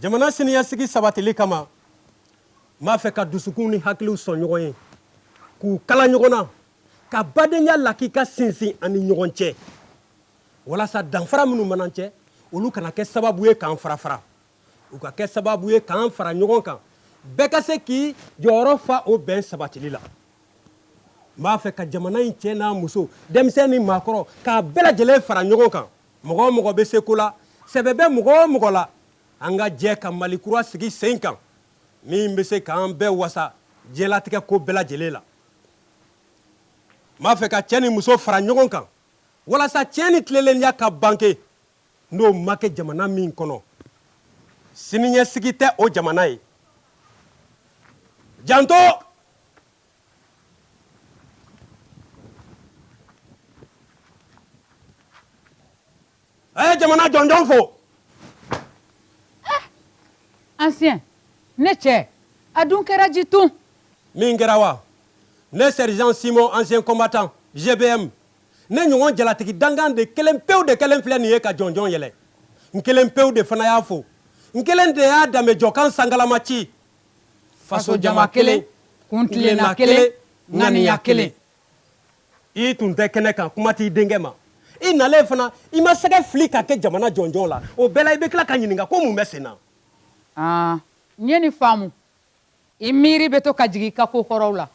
jamana siniɲɛsigi sabatili kama n b'a fɛ ka dusukun ni hakiliw sɔn ɲɔgɔn ye k'u kala ɲɔgɔn na ka badenya lakika sinsin an ni ɲɔgɔn cɛ walasa danfara minnu b'an cɛ olu kana kɛ sababu ye k'an farafara u ka kɛ sababu ye k'an fara ɲɔgɔn kan bɛɛ ka se k'i jɔyɔrɔ fa o bɛn sabatili la n b'a fɛ ka jamana in cɛ n'a muso denmisɛn ni maakɔrɔ k'a bɛɛ lajɛlen fara ɲɔgɔn kan mɔgɔ o mɔgɔ bɛ se ko la sɛbɛ bɛ mɔgɔ o mɔgɔ la an ka jɛ ka mali kura sigi sen kan min bɛ se k'an bɛɛ wasa diɲɛlatigɛ ko bɛɛ lajɛlen la n b'a fɛ ka cɛ ni muso fara ɲɔgɔn kan walasa tiɲɛ ni tilelenya ka bange n'o ma kɛ jamana min kɔnɔ siniɲɛsigi tɛ o jamana ye janto a ye jamana jɔnjɔn fo ancien i ni ce a dun kɛra di tun min kɛra wa ne sergent simon ancien combattant gbm ne ɲɔgɔn jalatigi dankan de kelen pewu de kelen filɛ nin ye ka jɔnjɔn yɛlɛ n kelen pewu de fana y'a fo n kelen de y'a danbejɔkan sangalama ci fasojama kelen kuntilenna kelen ŋaniya kelen i tun tɛ kɛnɛ kan kuma t'i denkɛ ma i nalen fana i ma sɛgɛ fili ka kɛ jamana jɔnjɔn la o bɛɛ la i bɛ tila ka ɲininka ko mun bɛ sen na n ye nin faamu i miiri bɛ to ka jigin i ka ko kɔrɔw la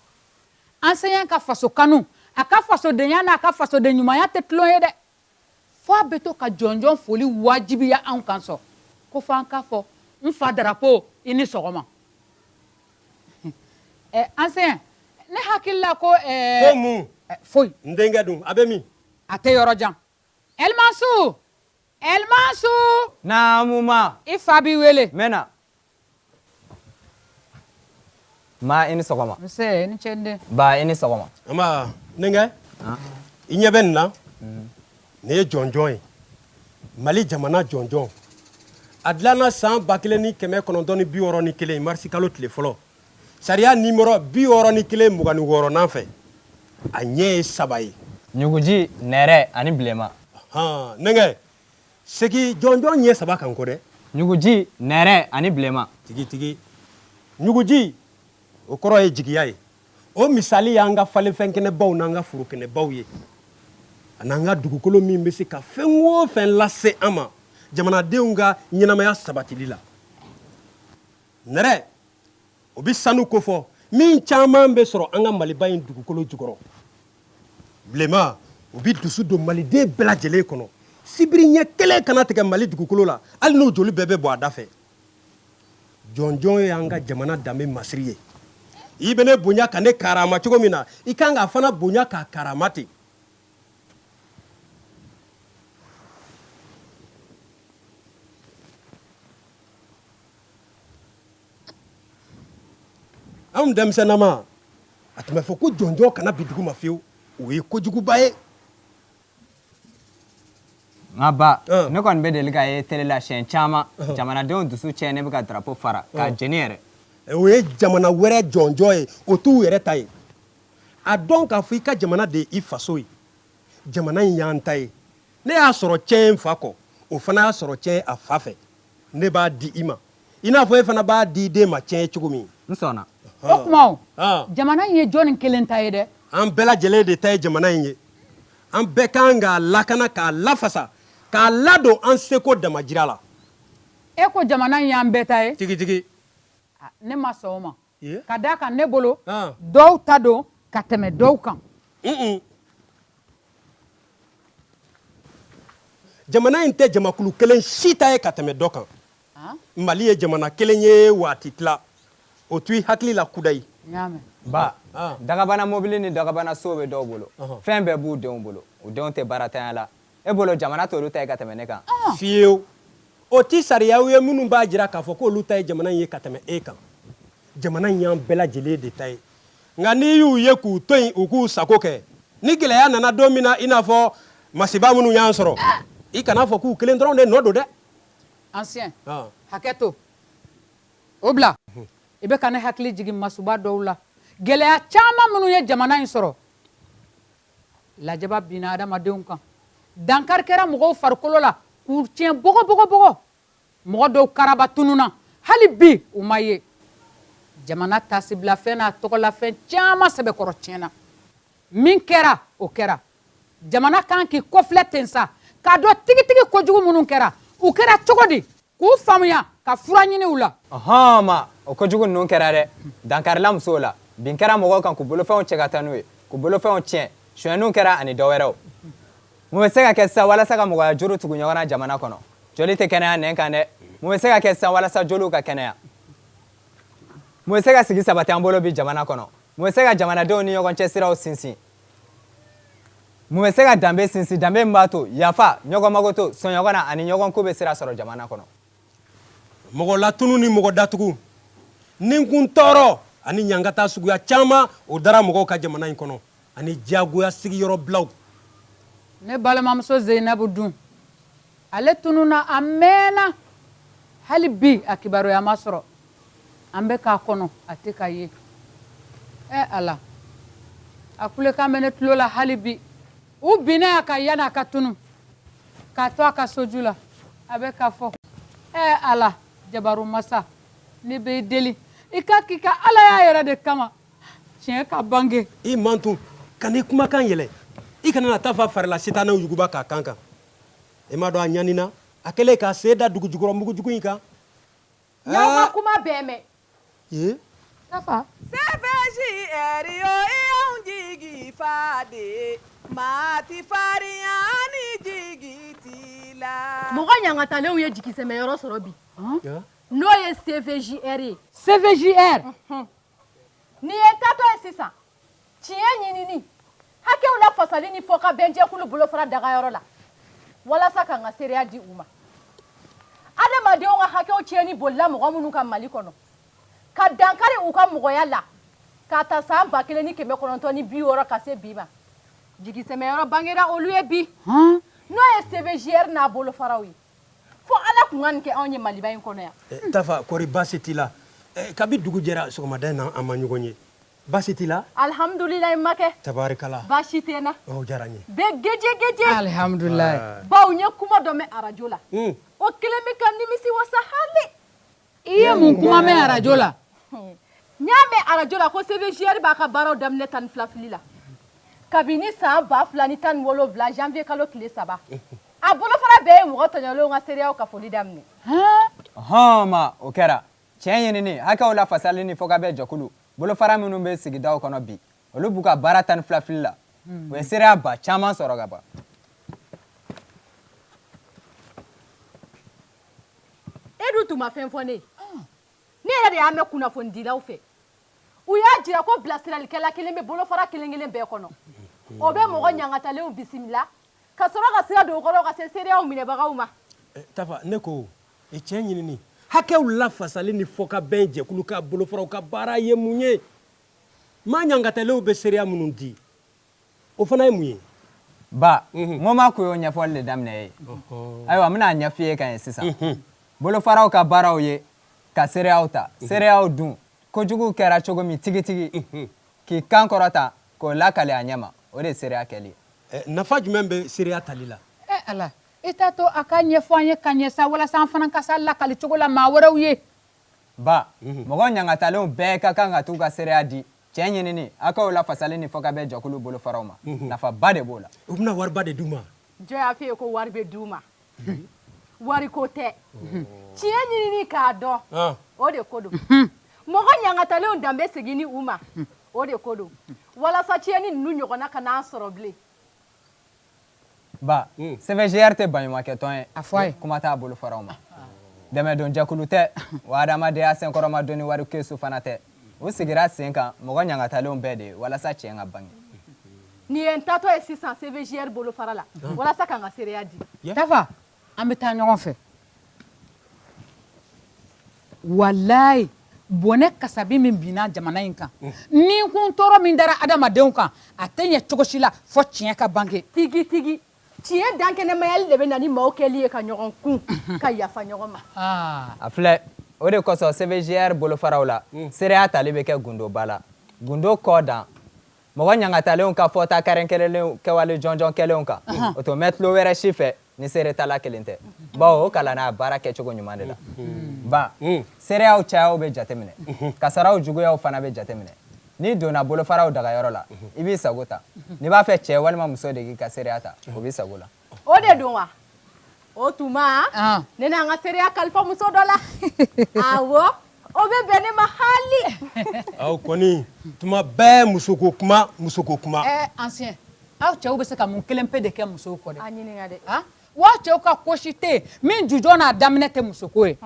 ancien ka faso kanu a ka fasodenya n'a ka fasoden ɲumanya tɛ tulon ye dɛ fo a bɛ to ka jɔnjɔn foli wajibiya anw kan sɔn ko fɔ an k'a fɔ n fa darapo i ni sɔgɔma eh, ancien ne hakili la ko eh, ko mun eh, foyi n denkɛ dun a bɛ min a tɛ yɔrɔ jan ɛlimansu Elmansu naamu maa i fa b'i wele n bɛ na maa i ni sɔgɔma nse i ni ce n den ba i ni sɔgɔma n denkɛ i ɲɛ bɛ nin na nin ye jɔnjɔn ye mali jamana jɔnjɔn a dilanna san ba kelen ni kɛmɛ kɔnɔntɔn ni bi wɔɔrɔ ni kelen marisikalo tile fɔlɔ Sariya numéro 61 mugan ni wɔɔrɔnan fɛ, a ɲɛ ye saba ye. Ɲuguji, nɛrɛ ani bilenman. Ɔnhɔn, n denkɛ, segin jɔnjɔn ɲɛ saba kan n kɔ dɛ. Ɲuguji, nɛrɛ ani bilenman. Tigitigi, ɲuguji, o kɔrɔ ye jigiya ye. O misali y'an ka falenfɛnkɛnɛbaw n'an ka forokɛnɛbaw ye, an'an ka dugukolo min bɛ se ka fɛn o fɛn lase an ma jamanadenw ka ɲɛnamaya sabatili la. nɛrɛ o bɛ sanu kofɔ min caman bɛ sɔrɔ an ka maliba in dugukolo jukɔrɔ bilenma o bɛ dusu don maliden bɛɛ lajɛlen kɔnɔ sibiri ɲɛ kelen kana tigɛ mali dugukolo la hali n'o joli bɛɛ bɛ bɔ a da fɛ jɔnjɔn ye an ka jamana danbe masiri ye i bɛ ne bonya ka ne karama cogo min na i kan k'a fana bonya k'a karama ten anw denmisɛnnama a tun bɛ fɔ ko jɔnjɔn kana bin dugu ma fiyewu o ye kojuguba ye nka ba ne kɔni bɛ deli k'a ye télé la siyɛn caman jamanadenw dusu cɛ ne bɛ ka drapeau fara k'a jeni yɛrɛ o ye jamana wɛrɛ jɔnjɔn ye o t'u yɛrɛ ta ye a dɔn k'a fɔ i ka jamana de ye i faso ye jamana in y'an ta ye ne y'a sɔrɔ cɛn n fa kɔ o fana y'a sɔrɔ cɛn a fa fɛ ne b'a di i ma i n'a fɔ e fana b'a di i den ma cɛn ye cogo min n sɔnna o kuma jamana in ye jɔnni kelen ta ye dɛ an bɛɛ lajɛlen de ta ye jamana in ye an bɛɛ kan k'a lakana k'a lafasa k'a ladon an seko damajira la e ko jamana in y'an bɛɛ ta ye tigitigi ne ma sɔn o ma ka d'a kan ne bolo dɔw ta don ka tɛmɛ dɔw kan jamana in tɛ jamakulu kelen si ta ye ka tɛmɛ dɔ kan mali ye jamana kelen ye wa a ti tila o to i hakili la kudayi ba dagabana mobili ni dagabana so bɛ dɔw bolo fɛn bɛɛ b'u denw bolo u denw tɛ baaratanya la e bolo jamana t'olu ta ye ka tɛmɛ ne kan fiyewu o ti sariyaw ye minnu b'a jira k'a fɔ k'olu ta ye jamana in ye ka tɛmɛ e kan jamana in y'an bɛɛ lajɛlen de ta ye nka n'i y'u ye k'u to yen u k'u sago kɛ ni gɛlɛya nana don min na i n'a fɔ masiba minnu y'an sɔrɔ i kan'a fɔ k'u kelen dɔrɔn de nɔ don dɛ ancien ah. hakɛ to o bila mhm. i bɛ ka ne hakili jigin masuba dɔw la gɛlɛya caman minnu ye jamana in sɔrɔ lajaba binna adamadenw kan dankari kɛra mɔgɔw farikolo la k'u tiɲɛ bɔgɔbɔgɔ mɔgɔ dɔw karaba tununna hali bi u ma ye jamana taasibilafɛn n'a tɔgɔlafɛn caman sɛbɛkɔrɔ tiɲɛna min kɛra o kɛra jamana kan k'i kɔfilɛ ten sa k'a dɔn tigitigi kojugu minnu kɛra u kɛra cogo di k'u faamuya ka fura ɲini u la ɔhɔn ma o kojugu ninnu kɛra dɛ dankarila musow la bin kɛra mɔgɔw kan k'u bolofɛnw cɛ ka taa n'u ye k'u bolofɛnw tiɲɛ sonyɛniw kɛra ani dɔ wɛrɛw mun bɛ se ka kɛ sisan walasa ka mɔgɔya juru tugu ɲɔgɔn na jamana kɔnɔ joli tɛ kɛnɛya nɛn kan dɛ mun bɛ se ka kɛ sisan walasa joliw ka kɛnɛya mun bɛ se ka sigi sabati an bolo bi jamana kɔnɔ mun bɛ se ka jamanadenw ni ɲɔgɔn cɛ siraw sinsin mun bɛ se ka danbe sinsin danbe min b'a to yafa ɲɔgɔn ma koto sɔn ɲɔgɔn na ani ɲɔgɔn ko bɛ sira sɔrɔ jamana kɔnɔ mɔgɔ latununni mɔgɔ datugu ninkun tɔɔrɔ ani ɲangata suguya caman o dara mɔgɔw kan jamana in kɔnɔ ani diyagoya sigiyɔrɔbilaw ne balimamuso zeyinabu dun Ale tununna a mɛnna hali bi a kibaruya ma sɔrɔ an bɛ k'a kɔnɔ a tɛ ka ye ɛ Ala a kulekan bɛ ne tulo la hali bi u binna a kan yanni a ka tunun k'a to a ka soju la a bɛ k'a fɔ ɛ Ala jabaru masa ne b'i deli i k'a k'i ka alaya yɛrɛ de kama tiɲɛ ka bange i mantun kan'i kumakan yɛlɛ i kana na Tafa farila sitanɛw yuguba k'a kan kan e m'a dɔn a ɲanina a kɛlen k'a sen da dugu jukɔrɔ mugujugu in kan n y'aw ka kuma bɛɛ mɛn ee Tafa. CVJR yo i y'anw jigi fa de ye. Maa ti farinya ni jigi t'i la. Mɔgɔ ɲangatalenw ye jigisɛmɛyɔrɔ sɔrɔ bi n'o ye CVJR ye. CVJR n'i ye n taatɔ ye sisan tiɲɛ ɲinini hakɛw lafasali ni fɔkabɛn jɛkulu bolofara dagayɔrɔ la walasa ka n ka seereya di u ma adamadenw ka hakɛw tiɲɛni bolila mɔgɔ minnu kan mali kɔnɔ ka dankari u ka mɔgɔya la k'a ta san ba kelen ni kɛmɛ kɔnɔntɔn ni bi wɔɔrɔ ka se bi ma jigisɛmɛyɔrɔ bangera olu ye bi n'o ye cvjr n'a bolofaraw ye fo ala tun ka nin kɛ anw ye maliba in kɔnɔ yan eh, tafa kɔri baasi t'i la eh, kabi dugu jɛra sɔgɔmada in na an ma ɲɔgɔn ye Baasi t'i la? Alihamudulilayi Makɛ. Tabarikala. Baasi tɛ n na. O diyara n ye. Bɛ gejɛgɛjɛ. Alihamudulila. Bawo n ye kuma dɔ mɛn arajo la. Un! O kɛlen bɛ ka n nimisi wasa haali. I ye mun kuma mɛn arajo la? Hun! N y'a mɛn arajo la ko CVJR b'a ka baaraw daminɛ tan ni fila fili la. Kabini san ba fila ni tan ni wolonwula janvier kalo tile saba. Unhun! A bolofara bɛɛ ye mɔgɔ tɔɲɔlenw ka seereyaw kafoli daminɛ. Haa! Ɔhɔn! Ma, o kɛra. tiɲɛ ɲinini hakɛw lafasali ni fɔkabɛn jɛkulu bolofara minnu bɛ sigidaw kɔnɔ bi olu b'u ka baara tan ni fila fili la u ye seereya ba caman sɔrɔ ka ban e dun tun ma fɛn fɔ ne ye ne yɛrɛ de y'a mɛn kunnafonidilaw fɛ u y'a jira ko bilasiralikɛla kelen bɛ bolofara kelen kelen bɛɛ kɔnɔ o bɛ mɔgɔ ɲangatalenw bisimila ka sɔrɔ ka sira don u kɔrɔ ka se seereyaw minɛbagaw ma eh, tafa ne ko e tiɲɛ ɲinini hakɛw lafasali ni fɔkabɛn jɛkulu ka bolofaraw ka baara ye mun ye maa ɲangatalenw bɛ seereya minnu di o fana ye mun ye ba mɔgɔ mako y'o ɲɛfɔli de daminɛ ye ayiwa n bɛn'a ɲɛf'i ye ka ɲɛ sisan bolofaraw ka baaraw ye ka seereyaw ta seereyaw dun kojuguw kɛra cogo min tigitigi k'i kan kɔrɔta k'o lakali a ɲɛma o de ye seereya kɛli ye nafa jumɛn bɛ seereya tali la eh, ala I t'a to a ka ɲɛfɔ an ye ka ɲɛ sa walasa an fana ka s'a lakali cogo la maa wɛrɛw ye. Ba, mɔgɔ ɲangatalenw bɛɛ ka kan ka t'u ka seereya di tiɲɛ ɲinini hakɛw lafasali ni fɔkabɛn jɛkulu bolofaraw ma. Nafaba de b'o la. U bɛna wariba de d'u ma. Jɔn y'a f'i ye ko wari bɛ d'u ma? Wariko tɛ. Tiɲɛ ɲinini k'a dɔn, o de ko don. Mɔgɔ ɲangatalenw danbe seginni u ma, o de ko don, walasa tiɲɛni ninnu ɲɔgɔnna kana an sɔrɔ bilen. ba hmm. CVJR tɛ baɲumankɛtɔn ye a fɔ a ye kuma t'a bolofaraw ma dɛmɛdonjɛkulu tɛ wa adamadenya senkɔrɔmadonni warikɛsu fana tɛ u sigira sen kan mɔgɔ ɲangatalenw bɛɛ de ye walasa tiɲɛ ka bange nin ye n taatɔ ye sisan CVJR bolofara la walasa ka n ka seereya di tafa an bɛ taa ɲɔgɔn fɛ walayi bɔnɛ kasabi min binna jamana in kan ni kun tɔɔrɔ min dara adamadenw kan a tɛ ɲɛ cogo si la fɔ tiɲɛ ka bange tigitigi tiɲɛ dankɛnɛmayali de bɛ na ni maaw kɛli ye ka ɲɔgɔn kun ka yafa ɲɔgɔn ma ah. a filɛ o de kosɔn CVJR bolofaraw la seereya tali bɛ kɛ gundoba la gundo kɔdan Mɔgɔ ɲangatalenw ka fɔta kɛrɛnkɛrɛnlenw kɛwale jɔnjɔn kɛlenw kan, unhun, o tɛ mɛn tulo wɛrɛ si fɛ ni seeretala kelen tɛ, bawo o kalanna a baara kɛcogo ɲuman de la, ba, seereyaw cayaw bɛ jateminɛ, kasaraw juguyaw fana bɛ jateminɛ, n'i donna bolofaraw dagayɔrɔ la, i b'i sago ta, n'i b'a fɛ cɛ walima muso de k'i ka seereya ta, o b'i sago la. o de don wa o tuma ne na n ka seereya kalifa muso dɔ la awɔ o bɛ bɛn ne ma haali aw kɔni tuma bɛɛ musoko kuma musoko kuma ɛɛ ancien aw cɛw bɛ se ka mun kelen pe de kɛ musow kɔ dɛ a ɲininka dɛ wa cɛw ka ko si tɛ yen min jujɔn n'a daminɛ tɛ musoko ye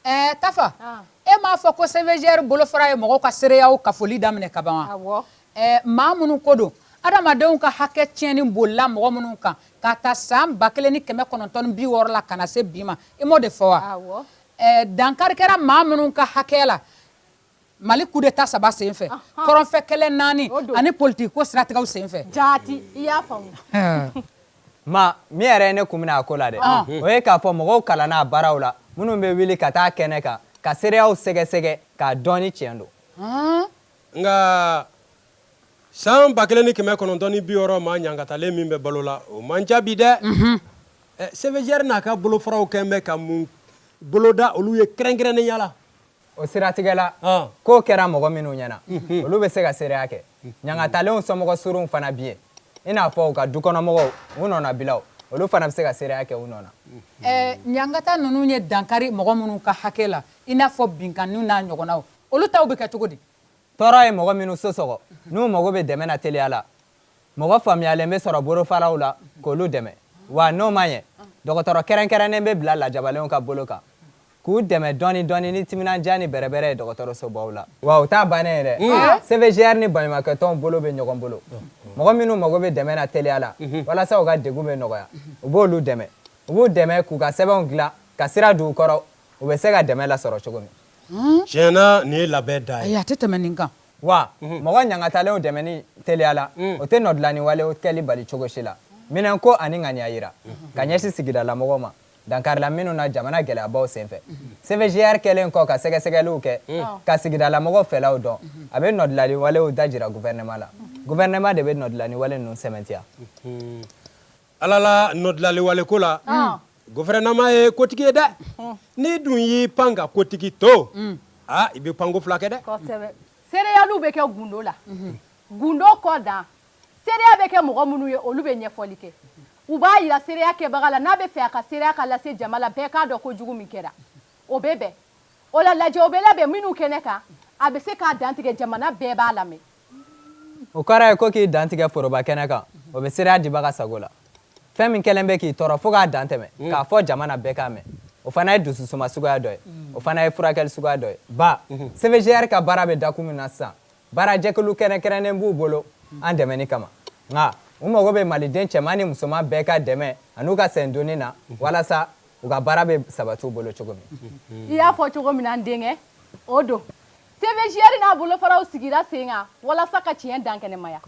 ɛɛ Tafa e m'a fɔ ko CVJR bolofara ye mɔgɔw ka seereyaw kafoli daminɛ ka ban wa awɔ. Ɛɛ maa minnu ko don adamadenw ka hakɛ tiɲɛni bolila mɔgɔ minnu kan k'a ta san ba kelen ni kɛmɛ kɔnɔntɔn bi wɔɔrɔ la ka na se bi ma i m'o de fɔ wa dankari kɛra maa minnu ka hakɛ la mali kudeta saba senfɛ kɔrɔnfɛ kɛlɛ naani ani politikiko siratigɛw senfɛ jaati i y'a faamu ma min yɛrɛ ye ne kun minɛ a ko la dɛ o ye k'a fɔ mɔgɔw kalanna a baaraw la minnu bɛ wuli ka taa kɛnɛ kan ka seereyaw sɛgɛsɛgɛ k'a dɔn ni tiɲɛ don nka san ba kelen ni kɛmɛ kɔnɔntɔn ni bi wɔɔrɔ maa ɲangatalen min bɛ balo la o man ca bi dɛ CVJR n'a ka bolofaraw kɛlen bɛ ka mun boloda olu ye kɛrɛnkɛrɛnnenya la o siratigɛ la ko kɛra mɔgɔ minnu ɲɛna olu bɛ se ka seereya kɛ ɲangatalenw somɔgɔ surunw fana bi yen i n'a fɔ u ka dukɔnɔmɔgɔw u nɔnabilaw olu fana bɛ se ka seereya kɛ u nɔ na ɲangata ninnu ye dankari mɔgɔ minnu ka hakɛ la i n'a fɔ binkanniw n'a ɲɔgɔnnaw olu taw bɛ kɛ cogo di tɔɔrɔ ye mɔgɔ minnu so sɔgɔ n'u mago bɛ dɛmɛ na teliya la mɔgɔ faamuyalen bɛ sɔrɔ bolofaraw la k'olu dɛmɛ wa n'o ma ɲɛ dɔgɔtɔrɔ kɛrɛnkɛrɛnnen bɛ bila lajabalenw ka bolo kan k'u dɛmɛ dɔɔni dɔɔni ni timinandiya ni bɛrɛbɛrɛ ye dɔgɔtɔrɔsobaw la wa o t'a bannen ye dɛ mm. CVJR ni baɲumakɛtɔnw bolo bɛ ɲɔgɔn bolo mɔgɔ minnu mago bɛ dɛmɛ na teliya la mm-hmm. walasa u ka degun bɛ nɔgɔya u b'olu dɛmɛ u b'u dɛmɛ k'u ka sɛbɛnw dilan ka sira don u kɔrɔ u bɛ se ka dɛmɛ lasɔrɔ cogo min Tiɲɛ na nin ye labɛn dan ye, a tɛ tɛmɛ nin kan, wa mɔgɔ ɲangatalenw dɛmɛni teliya la, o tɛ nɔdilani walew kɛli bali cogo si la, minɛnko ani ŋaniya jira ka ɲɛsin sigidalamɔgɔw ma dankarila minnu na jamana gɛlɛyabaw senfɛ. CVJR kɛlen kɔ ka sɛgɛsɛgɛliw kɛ ka sigidalamɔgɔw fɛlaw dɔn, a bɛ nɔdilani walew dajira gouvernement la, gouvernement de bɛ nɔdilani wale ninnu sɛmɛntiya. Ala la nɔdilani wale ko la gouvernement ye kotigi ye dɛ n'i dun y'i pan ka kotigi to aa i bɛ panko fula kɛ dɛ seereyaliw bɛ kɛ gundo la gundo kɔ dan seereya bɛ kɛ mɔgɔ minnu ye olu bɛ ɲɛfɔli kɛ u b'a jira seereya kɛbaga la n'a bɛ fɛ a ka seereya ka lase jama la bɛɛ k'a dɔn ko jugu min kɛra o bɛ bɛn o la lajɛ o bɛ labɛn minnu kɛnɛ kan a bɛ se k'a dantigɛ jamana bɛɛ b'a lamɛn O kɔrɔ ye ko k'i dantigɛ foroba kɛnɛ kan, o bɛ seereya dibaga sago la. Fɛn min kɛlen bɛ k'i tɔɔrɔ fo k'a dan tɛmɛ, k'a fɔ jamana bɛɛ k'a mɛn, o fana ye dususuma suguya dɔ ye. O fana ye furakɛli suguya dɔ ye. Ba, CVJR ka baara bɛ dakun min na sisan, baarajɛkulu kɛrɛnkɛrɛnnen b'u bolo an dɛmɛni kama. Nka, u mago bɛ Maliden cɛman ni musoman bɛɛ ka dɛmɛ an'u ka sendonni na walasa u ka baara bɛ sabati u bolo cogo min. I y'a fɔ cogo min na, n denkɛ, o don. CVJR n'a bolofaraw sigira sen kan walasa ka tiɲɛ dankɛnɛmaya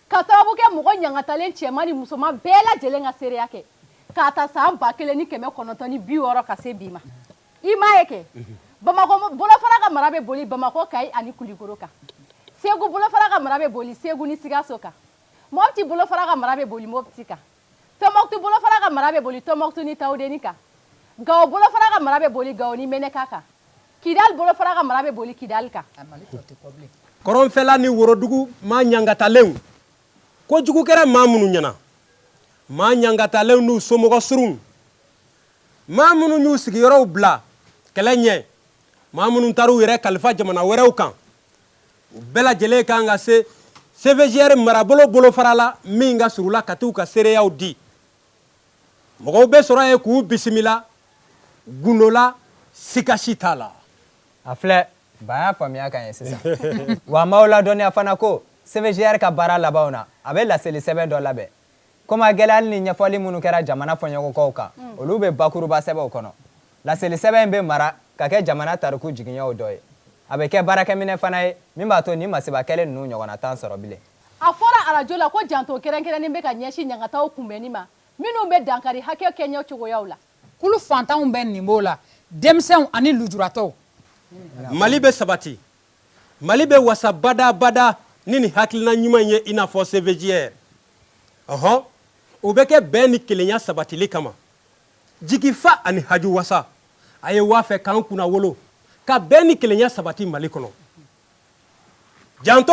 ka sababu kɛ mɔgɔ ɲangatalen cɛman ni musoman bɛɛ lajɛlen ka seereya kɛ k'a ta san ba kelen ni kɛmɛ kɔnɔntɔn ni bi wɔɔrɔ ka se bi ma i m'a ye kɛ bamakɔ bolofara ka mara bɛ boli bamakɔ kayi ani kulikoro kan segu bolofara ka mara bɛ boli segu ni sikaso kan mɔti bolofara ka mara bɛ boli mɔti kan Tɔnbɔkutu bolofara ka mara bɛ boli Tɔnbɔkutu ni Tawudeni kan. Gawo bolofara ka mara bɛ boli Gawo ni Meneka kan. Kidali bolofara ka mara bɛ boli Kidali kan. Kɔrɔnfɛla ni worodugu maa ɲangatalenw ko jugu kɛra maa minnu ɲɛna, maa ɲangatalenw n'u somɔgɔ surun, maa minnu y'u sigiyɔrɔw bila kɛlɛ ɲɛ, maa minnu taara u yɛrɛ kalifa jamana wɛrɛw kan, u bɛɛ lajɛlen kan ka se cvjr marabolo bolofara la min ka surun u la ka taa u ka seereyaw di mɔgɔw bɛ sɔrɔ yen k'u bisimila gundo la siga si t'a la a filɛ ba y'a faamuya ka ɲɛ sisan wa an b'aw ladɔnniya fana ko cvjr ka baara labanw na a bɛ laseli sɛbɛn dɔ labɛn komi a gɛlɛyali ni ɲɛfɔli minnu kɛra jamana fɔɲɔgɔnkɔw kan olu bɛ bakuruba sɛbɛn o kɔnɔ laseli sɛbɛn in bɛ mara ka kɛ jamana tariku jiginɛw dɔ ye a bɛ kɛ baarakɛminɛ fana ye min b'a to nin masiba kɛlen ninnu ɲɔgɔnna t'an sɔrɔ bilen a fɔra arajo la ko janto kɛrɛnkɛrɛnnen bɛ ka ɲɛsin ɲangataw kunbɛnni ma minnu bɛ dankari hakɛ kɛɲɛ cogoyaw la kulu fantanw bɛɛ nin b'o la denmisɛnw ani lujuratɔw mali bɛ sabati mali bɛ wasa badabada ni nin hakilina ɲuman ye i n'a fɔ cvjr ɔhɔ o bɛ kɛ bɛn ni kelenya sabatili kama jigifa ani haju wasa a ye wa a fɛ k'an kunnawolo ka bɛn ni kelenya sabati mali kɔnɔ janto